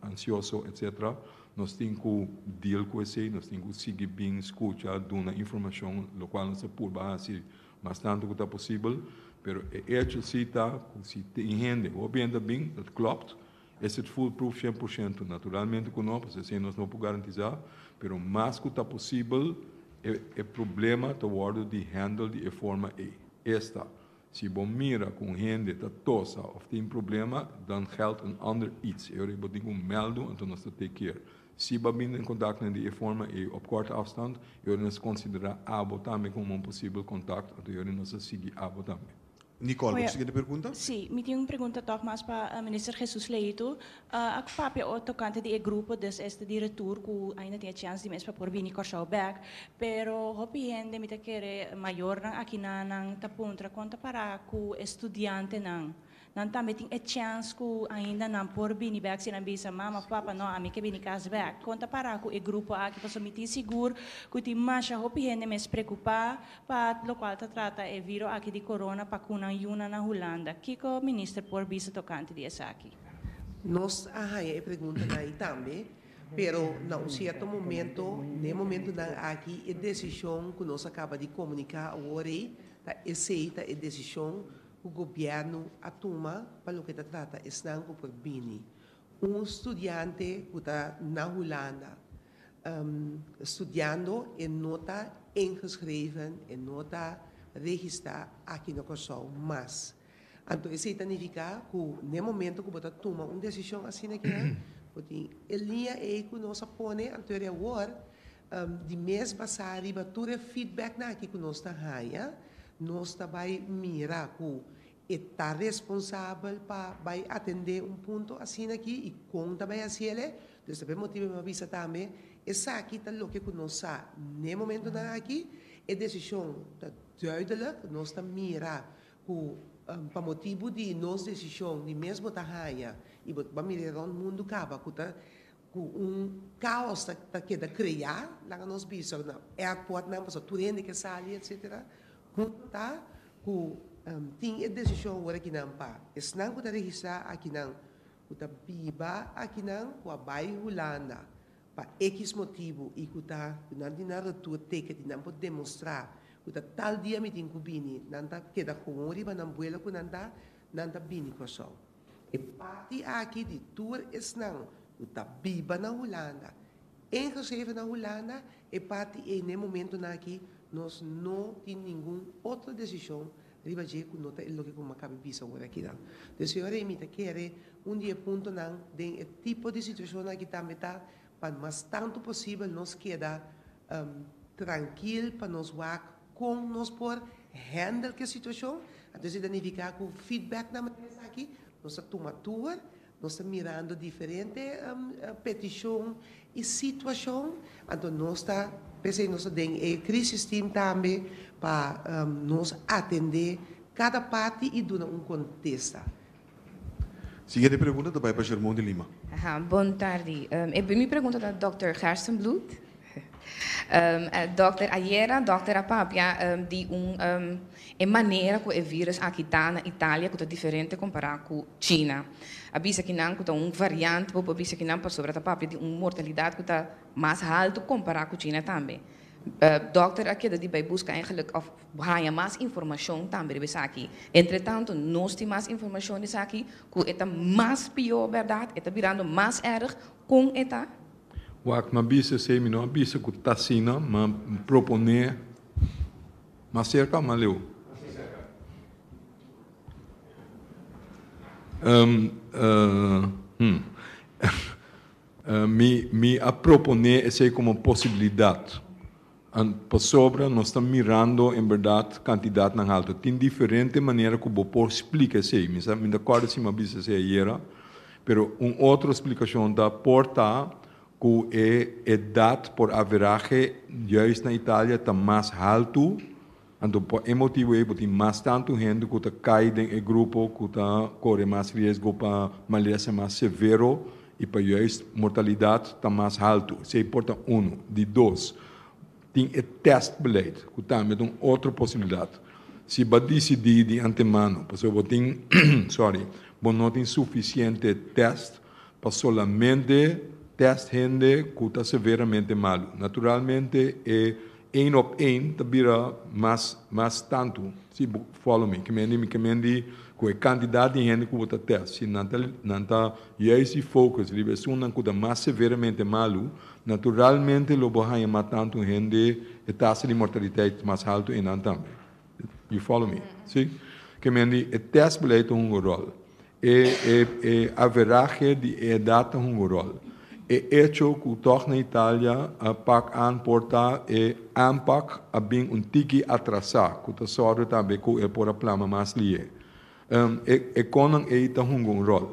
ansioso, etc. Nos tin ku deal ku esei, nos tin ku sigui bin skucha, duna informashon, lokual nos ta purba hasi mas tantu ku ta posibel. Pero e echo si ta ku si tin hende, hopi hende ta bin, dat klopt, Es e fool proof shen por shento? Naturalmente cu no, pasobra esey nos no por garantiza, pero mas cu ta posibel e problema ta wordo di handle di e forma ey. Esta, Si bo mira cu un hende ta tosa of tin problema, dan geld en ander iets. E orei bo tin cu meldo, enton nos ta take care. Si bo a bini den contactnan di e forma ey op corte afstand, e orei nos a considera abo tambe como un posibel contact, enton e orei nos a sigui abo tambe. Nicole, bo siguiente pregunta? Sí, mi tin un pregunta tog mas pa Minister Jesus Leito. A cu papia oor tocante di e grupo des este di retur cu ainda tin e chance di mes pa por bini Corsou bek, pero hopi hende mi ta kere mayornan akinan nan ta puntra con ta para cu e studiantenan? Nan tambe tin e chance cu ainda nan por bini bek si nan bisa mama of papa no ami ke bini cas bek? Con ta para cu e grupo aki pasobra mi tin sigur cu tin masha hopi hende mes preocupa Pa lokual ta trata e viro aki di corona pa cu nan yuna na Hulanda? Kico Minister por bisa tocante di esaki? Nos a haña e preguntanan ei tambe, pero na un cierto momento, n'e momentunan aki, e decision cu nos a caba di comunica awor ei, ta esey ta e decision cu Gobierno a tuma pa loke ta trata esnan cu por bini. Un studiante cu ta na Hulanda, studiando e no ta ingeschreven, e no ta regista aki na Kòrsou mas. Anto esei ta nifiká ku n'e momento ku bo ta tuma un desishon asina kera, bo tin e liña ei ku nos a pone anter di awor, di mes basá riba tur e feedbacknan aki ku nos ta haña, nos ta bai mira ku E ta responsabel pa bai atendé un punto asina akí i kon ta bai hasi el e? Pues ta por e motibu mi a bisa tambe esaki ta loke ku nos sa n'e momentunan akí. E desishon ta duidelek, nos ta mira ku pa motibu di nos desishon di mes bo ta haña i bo ta ba mira e rònt mundu kaba ku ta Cu un caos ta keda crea, nan a nos bisa cu na airport nan pasobra tur hende ke sali etc. Cu ta cu tin e decision awor aki nan pa esnan cu ta registra aki nan cu ta biba aki nan cu a bay Hulanda pa ekis motibu y cu ta cu nan tin nan retur ticket y nan por demostra cu ta tal dia mi tin cu bini nan ta keda hoon riba nan buelo cu nan ta nan ta bini Corsou. E parti aki di tur esnan cu ta biba na Hulanda, ingeschreven na Hulanda, e parti ey n'e momentonan aki nos no tin ningun otro decision riba dje cu no ta e loke cu Maccabi bisa ora aki nan. Dje siñora y mi ta kere un di e puntonan den e tipo di situacionnan aki tambe ta pa mas tanto posibel nos keda trankil pa nos wak Kon nos por handle ki situashon? Anto esei ta nifiká ku feedback na manera esaki nos ta tuma tur, nos ta mirando diferente petishon i situashon, anto nos ta p'esei nos ta den e crisis team tambe pa nos atendé kada parti i duna un kontesta. Siguiente pregunta ta bai pa Shermon di Lima. Aha, bon tardi. Um, e primi pregunta ta dokter Gerstenbloed. Um, uh, dokter, ayera dokter a papia um, di un, um, e manera ku e virus aki ta na Italia ku ta diferente kompará ku China. A bisa kinan ku ta un variant, bo por bisa kinan pasobra ta papia di un mortalidat ku ta mas haltu kompará ku China tambe. Uh, dokter a keda di bai buska engeluk of Bo haña mas informashon tambe riba esaki. Entretanto, nos tin mas informashon di esaki ku e ta mas pió, bèrdat? E ta birando mas èrg? Kon e ta? Wak, mi a bisa esei, mi no a bisa ku ta asina, mi a proponé mas serka o mas leu? Hm. Mi a proponé esei komo posibilidat. Pasobra nos ta mirando en berdad cantidadnan haltu. Tin diferente manera cu bo por splica esey. Mi sa, mi no ta corda si mi a bisa esey ayera, pero un otro splicacion ta, por ta cu e edad por averahe juist na Italia ta mas haltu, Anto por e motibu ei bo tin mas tantu hende ku ta kai den e grupo ku ta kore mas riesgo pa malesa mas severo i pa juist mortalidat ta mas haltu. Esei por ta unu. Di dos, tin e tèstbeleid ku tambe ta un otro posibilidat. Si bo a disidí di antemano pasobra bo tin, sorry, bo no tin sufisiente tèst, pa solamente test hende cu ta severamente malu. Naturalmente e een op een ta bira mas mas tantu, si bo follow me, kimendi mi kimendi cu e cantidad di hende cu bo ta test. Si nan ta nan ta juist di focus riba esunnan cu ta mas severamente malu, naturalmente lo bo haya mas tantu hende, e tasa di mortaliteit mas haltu enan tambe. You follow me? Si? Ke men di e tèstbeleid ta hunga ròl. E e e averahe di e edat ta hunga ròl. E echo ku tòg na Italia a pak an por ta e aanpak a bin un tiki atrasá ku ta sòrbe tambe ku e por a plama mas lihe. E e konnan ei ta hunga un ròl.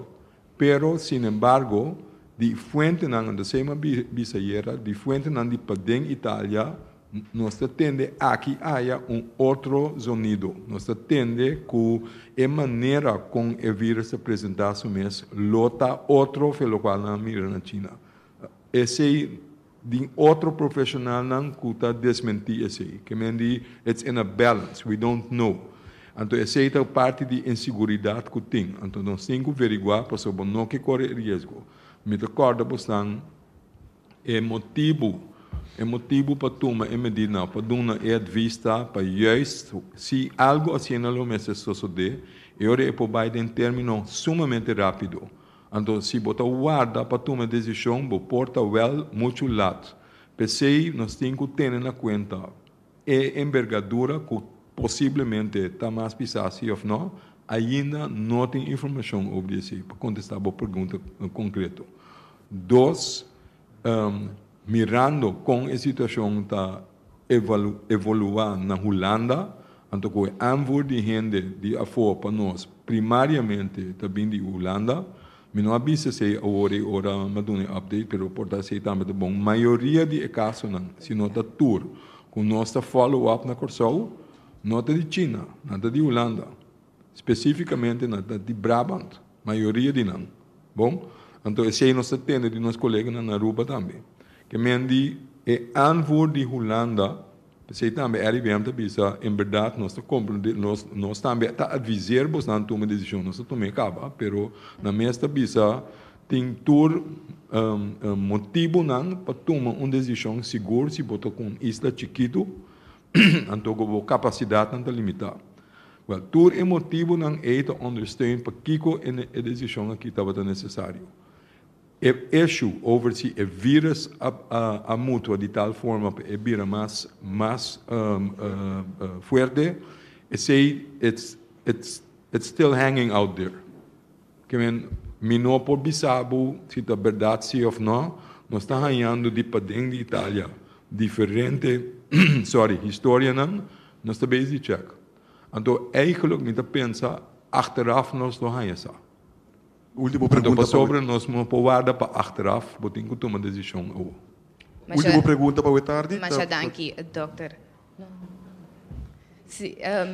Pero, sinembargo, di fuentenan, anto esei m'a bisa ayera, di fuentenan di paden Italia, nos ta tende aki aya un otro zonido. Nos ta tende cu e manera con e virus ta presenta su mes lo ta otro fe locual nan a mira na China. Esey di otro profesionalnan cu ta desmenti esey. Kemen di it's in a balance, we don't know. Anto esey ta parti di inseguridad cu tin. Anto nos tin cu verigua pasobra bo no ke core e riesgo. Mi ta corda bosnan e motibu, e motibu pa tuma e medida nan, pa dunnan e advis ta pa juist si algo asina lo mester sosode, e ora e por bay den termino sumamente rapido. Anto si bo ta warda pa tuma e desishon bo por ta wèl muchu lat. P'esei nos tin ku tene na kuenta e enbergadura ku posiblemente ta mas pisá si òf nò. Ainda no tin informashon ober di esei pa kontestá bo pregunta konkreto. Dos. Mirando kon e situashon ta evoluá na Hulanda, anto ku e anvoer di hende di afó pa nos primariamente ta bin di Hulanda. Mi no a bisa esei awor ei ora m'a duna e update, pero por ta esei tambe ta bon. Mayoria di e kasonan, si no ta tur, ku nos ta follow up na Kòrsou, no ta di China, nan ta di Hulanda, spesífikamente nan ta di Brabant. Mayoria di nan. Bon, anto esei nos ta tende di nos koleganan na Aruba tambe. Kemen di e anvoer di Hulanda, p'esei tambe RIVM ta bisa, en berdad nos ta komprende, nos nos tambe ta adviser bosnan tuma desishon. Nos a tum'é kaba, pero nan mes ta bisa tin tur motibunan pa tuma un desishon sigur si bo ta ku un isla chikitu, Anto ku bo kapasidatnan ta limitá. Wèl, tur e motibunan ei ta ondersteun pakiko e desishon akí tabata nesesario. E eshu over si e vírus a mutua di tal forma pa e bira mas mas fuerte, esei it's it's it's still hanging out there. Kimen, Mi no por bisa bo si ta berdad sí of no, nos ta hañando di paden di Italia diferente sorry historianan, nos ta base di Czech. Anto eigenlijk mi ta pensa achteraf nos lo haña sa. Último pregunta pa wi. Anto pasobra nos no por warda pa achteraf, bo tin ku tuma desishon awo. Último pregunta pa wi tardi. Masha danki dokter.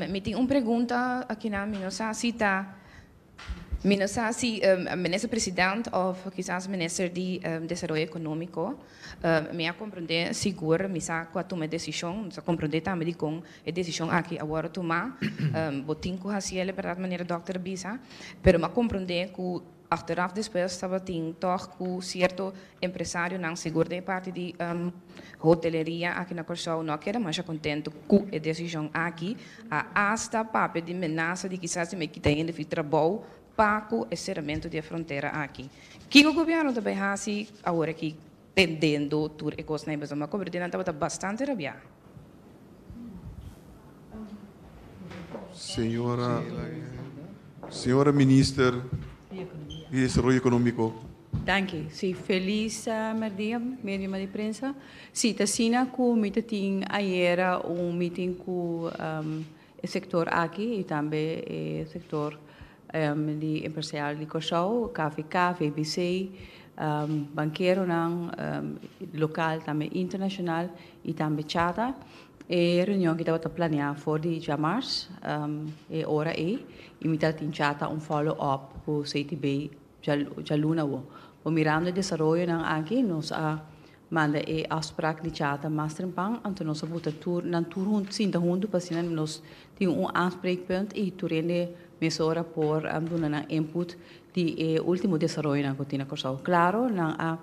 Mi tin un pregunta akinan, mi no sa si ta Mi no sa si Minister President of kisas Minister di Desaroyo Economico. Mi a comprende sigur, mi sa cu a tuma e decision, mi sa comprende tambe dicon e decision aki a wordo tuma. Bo tin cu haciele berdad manera Dokter a bisa, pero mi a comprende cu achteraf despues tabatin tog cu cierto Empresarionan sigur den e parti di hoteleria aki na Kòrsou no a keda masha kontentu ku e desishon aki, a asta papia di menasa di kisas di me kita hende fi trabou pa ku e seramentu di e frontera aki. Kiko gobièrnu ta bai hasi awor aki tendendo tur e kosnan ei pasobra mi a kobradi nan tabata bastante rabiá. Señora Señora Minister di Desaroyo Ekonómiko. Danki. Si, felis merdia mediuma di prensa. Si, ta asina ku mi ta tin ayera un mitin ku e sektor aki i tambe e sektor di empresarial di Kòrsou, KVK, VBC, bankeronan lokal tambe internashonal i tambe chata. E reunion aki tabata plania for di djamars e ora ei i mi tabata tin chata un follow up ku CTB Djaluna bo. Bo mirando e desaroyonan aki, nos a manda e afsprak di chata mas trempan, anto nos a buta tur, nan tur huntu sinta huntu pa asina nos tin un aanspreekpunt i tur hende mesora por duna nan input di e ultimo desaroyonan ku tin na Kòrsou. Klaro, nan a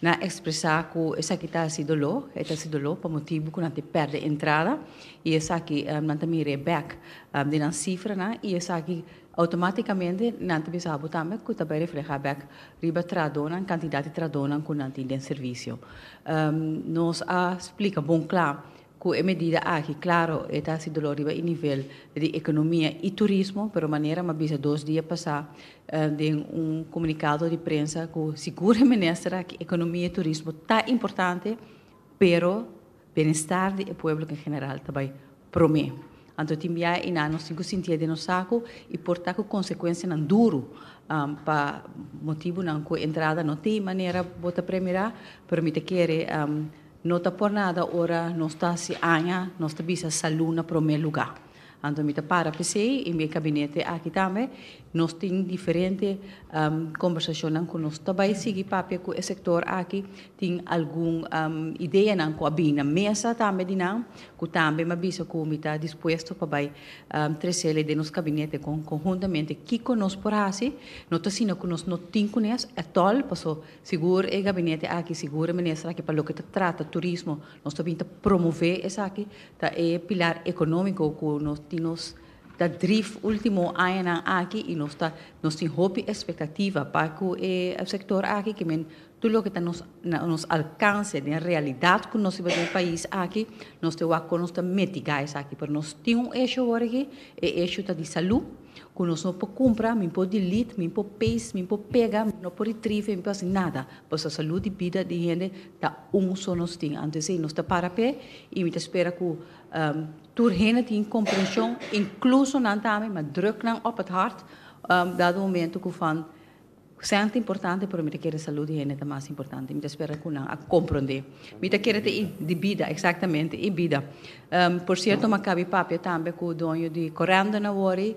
nan ekspresá ku esaki ta hasi doló, e ta hasi doló pa motibu ku nan tin pèrdè entrada i esaki nan ta mira e bèk di nan sifranan i esaki, Automáticamente nan ta bisa bo tambe cu ta bay refleha bek riba tradonan, cantidad di tradonan cu nan tin den servicio. Nos a splica bon cla cu e medida aki, claro, e ta haci dolor riba e nivel di economia y turismo, pero manera m'a bisa dos dia pasá den un comunicado di prensa cu sigur e minister aki, economia y turismo ta importante, pero Bienestar di e pueblo en general ta bai prome. Anto tin biaha i nan nos tin cu sintia den nos sacu i por ta cu consecuencianan duru pa motibunan cu entrada no tin manera bo ta premira, pero mi ta kere no ta por nada ora nos ta haci aña nos ta bisa salud na prome lugar. Anto mi ta para p'esei i mi e kabinete aki tambe nos tin diferente kombersashonnan ku nos ta bai sigui papia ku e sektor aki. Tin algun ideanan ku a bini na mesa tambe di nan ku tambe mi a bisa ku mi ta dispuesto pa bai tresel e den nos kabinete kon konhuntamente kiko nos por hasi. No ta asina ku nos no tin kunes atòl paso sigur e gabinete aki, sigur e minister aki pa loke ta trata turismo nos ta bin ta promove esaki. Ta e pilar economico cu nos tin nos ta drif ultimo añanan aki y nos ta nos tin hopi expectativa pa cu e sector aki kimen tur loke ta nos na nos alcance den realidad cu nos tin den pais aki nos te wak con nos ta metiga esaki pero nos tin un hecho awor aki e hecho ta di salu cu nos no por cumpra mi por delete mi por paste mi por pega no por retrieve mi por haci nada pasobra salud y bida di hende Ta un so nos tin anto esei nos ta para p'e i mi ta spera ku tur hende tin komprenshon inkluso nan tambe ma druk nan op et hart dado momento ku van sèn ta importante pero mi ta kere salud di hende ta mas importante mi ta spera ku nan a komprondé mi ta kere ta i di bida eksaktamente i bida por sierto mi a kabi papia tambe ku doño di Corendon awori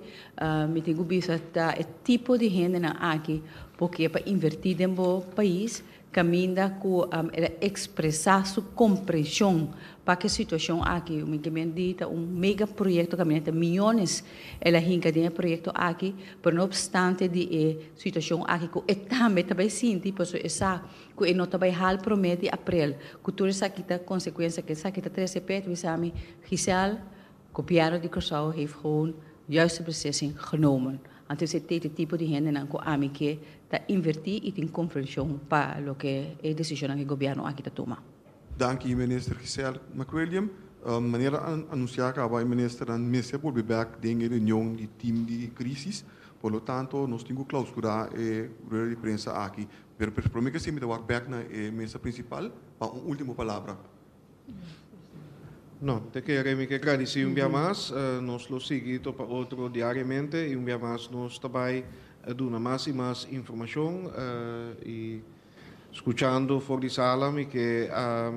mi tin ku bisa ta e tipo di hendenan aki por ke pa invertí den bo pais Caminda cu el a expresa su comprension pa aki situacion aki. Mi ke men di ta un mega proyecto caminda ta miyones el a hinca den e proyecto aki, pero no obstante di e situacion aki cu e tambe ta bay sinti pasobra e sa cu e no ta bay hal prome di April cu tur esaki ta consecuencia cu esaki ta trece p'e, ta bisa mi Giselle, Gobièrnu di Kòrsou hèf gewoon juiste beslissing genomen antes e tete tipo di hendenan ku ami ke ta invertí i tin konfrenshon pa loke e desishonnan ku e gobièrnu aki ta tuma. Danki Minister Giselle McWilliam. Manera anunsiá kaba e ministernan mester bolbe bèk den e reunion di tim di krísis, por lo tanto nos tin ku klausturá e rueda di prensa aki. Pero promé ke siempre ta wak bèk na e mesa prinsipal pa un último palabra. No, te kere mi ke gradisi un bia mas. Nos lo sigui topa otro diariamente i un bia mas nos ta bai duna mas i mas informashon. I skuchando for di sala mi ke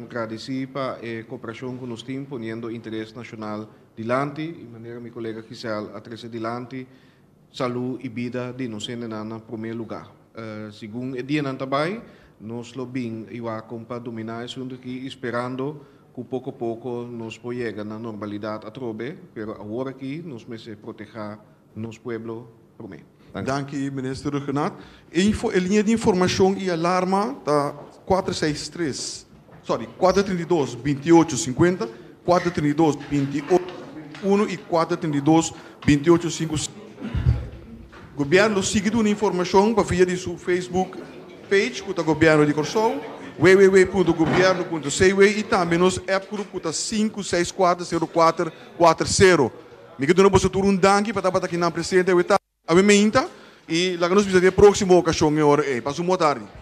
gradisi pa e koperashon ku nos tin poniendo interes nashonal dilanti, i manera mi kolega Gisèle a trese dilanti. Salú i bida di nos hendenan na promé lugá. Segun e dianan ta bai, nos lo bin i wacom pa dominá esuntu akí i sperando cu poco poco nos por yega na normalidad atrobe, pero awor akí nos mester protehá nos pueblo promé. Danki Minister Rhuggenaath. E liña di informacion i alarma ta kuater seis tres. Sorry, kuater treinta i dos, binti i ocho, sinkuenta, kuater treinta i dos, binti i ocho, sinkuenta i unu i kuater treinta i dos, binti i ocho, sinku sènta. Gobièrnu lo sigui duna informashon pa via di su Facebook page ku ta Gobièrnu di Kòrsou, www.gobierno.cw, i tambe nos app grup ku ta sinku seis kuater seru kuater kuater seru. Mi ke duna boso tur un danki pa tabata kinan presente awe ta awe meinta i laga nos bisa di e próksimo okashon e ora ei. Pasa un bon tardi.